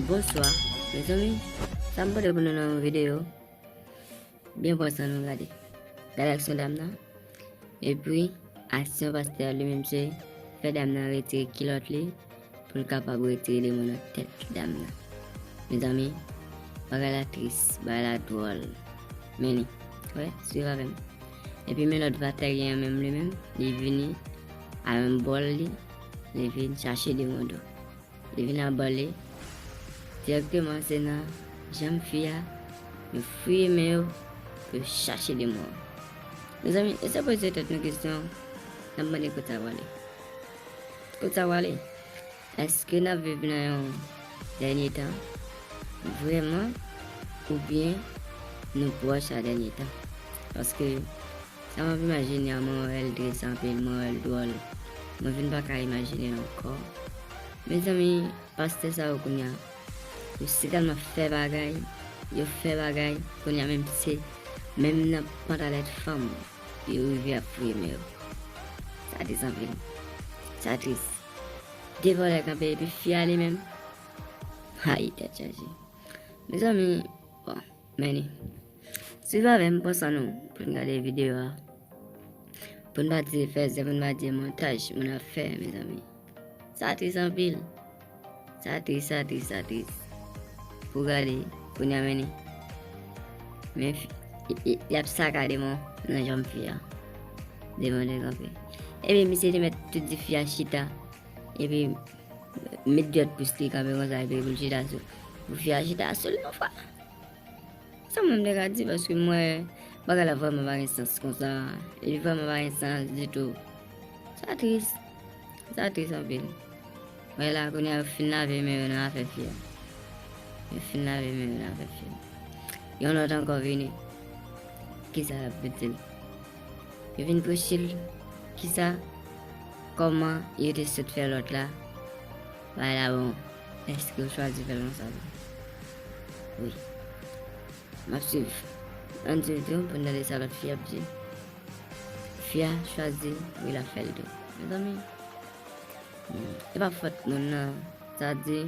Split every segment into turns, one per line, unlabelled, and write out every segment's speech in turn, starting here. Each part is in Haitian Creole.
Bonswa mezanmi sa m pote pou nou nan video byen pran san nou gade gade aksyon dam nan epi aksyon pastè li menm se fè dam nan rete kilot li pou l kapab rete de moun nan tèt dam nan mezanmi bagay la tris bagay la dwòl men li wè suiv avèm epi men lòt vatè gen yon menm li menm li vini a yon bòl li li vin chache de moun do Li vin a bale, dirèkteman se nan janm fi a, yo fouye men yo pou yo chache demon an. Mezanmi, eseye poze tèt nou kesyon, n ap mande kot sa prale? Kot sa prale? Èske n ap viv nan yon dènye tan vrèman oubyen nou pwòch a dènye tan? Paske. Sa map imajine a mwen wèl tris anpil mwen wèl dwòl mwen vin paka imajinel ankò mezanmi pastè sa yo kounya yo sitèlman fè bagay yo fè bagay kounya menm se menm nan pantalèt fanm yo rive ap fouye men yo sa tris anpil sa tris 2 vòlè kanpe epi fi a li menm ayy tèt chaje mezanmi bon. Meni. Swiv avè m pran san nou pou n gade videyo a. Pou n pa di fèzè, pou n pa di montaj moun ap fè mezanmi. Sa tris anpil. Sa tris, sa tris, sa tris. Pou gade, pou n ameni. Men fi, y ap sakade moun nan janm fi a. Devan de kanpe. Epi misye te met tout di fi a chita. Epi met gyot pous li kanpe konsa epi boul chita sou. Vyaj ta sou li yon fwa. Sa mwen mde ka di paske mwen bagay la vwèman bagay sans kon sa. Li vwèman bagay sans di tou. Sa tris. Sa tris anpil. Mwen la koun ya fin la ve men yon nan afe fye. Yon fin la ve men yon nan afe fye. Yon lot an kon vini. Ki sa la pwede li? Yon vini pwede li? Ki sa? Koman yon te sot fye lot la? Pharaon, èske ou chwazi fè lòs avè m? Wi. M ap suiv. Ann suiv tou pou n tande sa lòt fi ap di. Fi a chwazi wi l ap fè l tou. Mezanmi, e pa fòt moun nan. Sa di,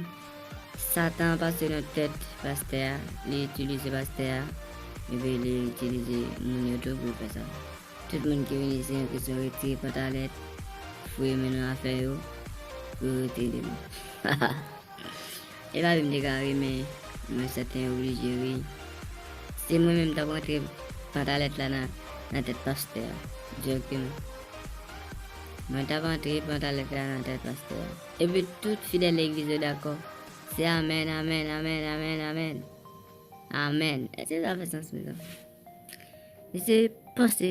Satan pase nan tèt pastè a, li itilize pastè a, epi li itilize moun yo tou pou l fè sa. Tout moun ki vin isi an kesyon retire pantalèt, fouye men nan afè yo, pou yo rete libre. Hahaha e pa vim dekare men mwen sèten oblije wi. Se mwen menm tap rantre pantalèt la nan tèt pastè a. Djokm. Mwen tap antre pantalèt la nan tèt pastè a. Epi tout fidèl legliz yo dakò. Se amèn amèn amèn amèn amèn. Amèn. Eske sa fè sans mezanmi? Misye panse,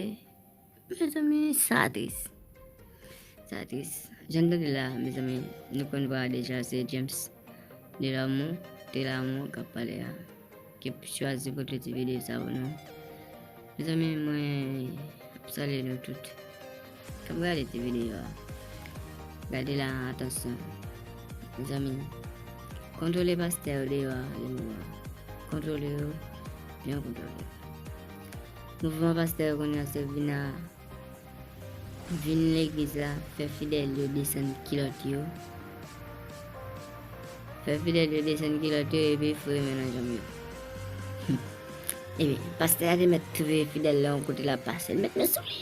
mezanmi sa tris, sa tris. Jan nou tande la mezanmi, nou konn vwa deja se James de l'amour, de l'amour kap pale a, ki chwazi pou kloti video sa pou nou. Mezanmi mwen salye nou tout. Kap gade ti video a. Gade la atansyon. Zanmi. Kontrole pastè yo deyo a li mou a. Kontrole yo. Yon kontrole. Mouvman pastè yo konya se vina vin legliz la fè fidèl yo desen kilot yo. Fè fidèl yo desen kilot yo epi fure men nan janm yo. Epi, pastè a te met touve fidèl la yon kote la pase. Met men sou li.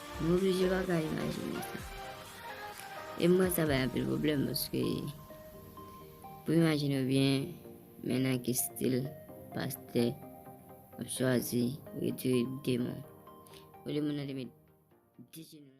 M oblije pa ka imajine sa. E mwen sa bay anpil pwoblèm paske pou imajine byen men nan ki stil pastè ap chwazi retire demon. Ou de moun nan te met 10 jenou.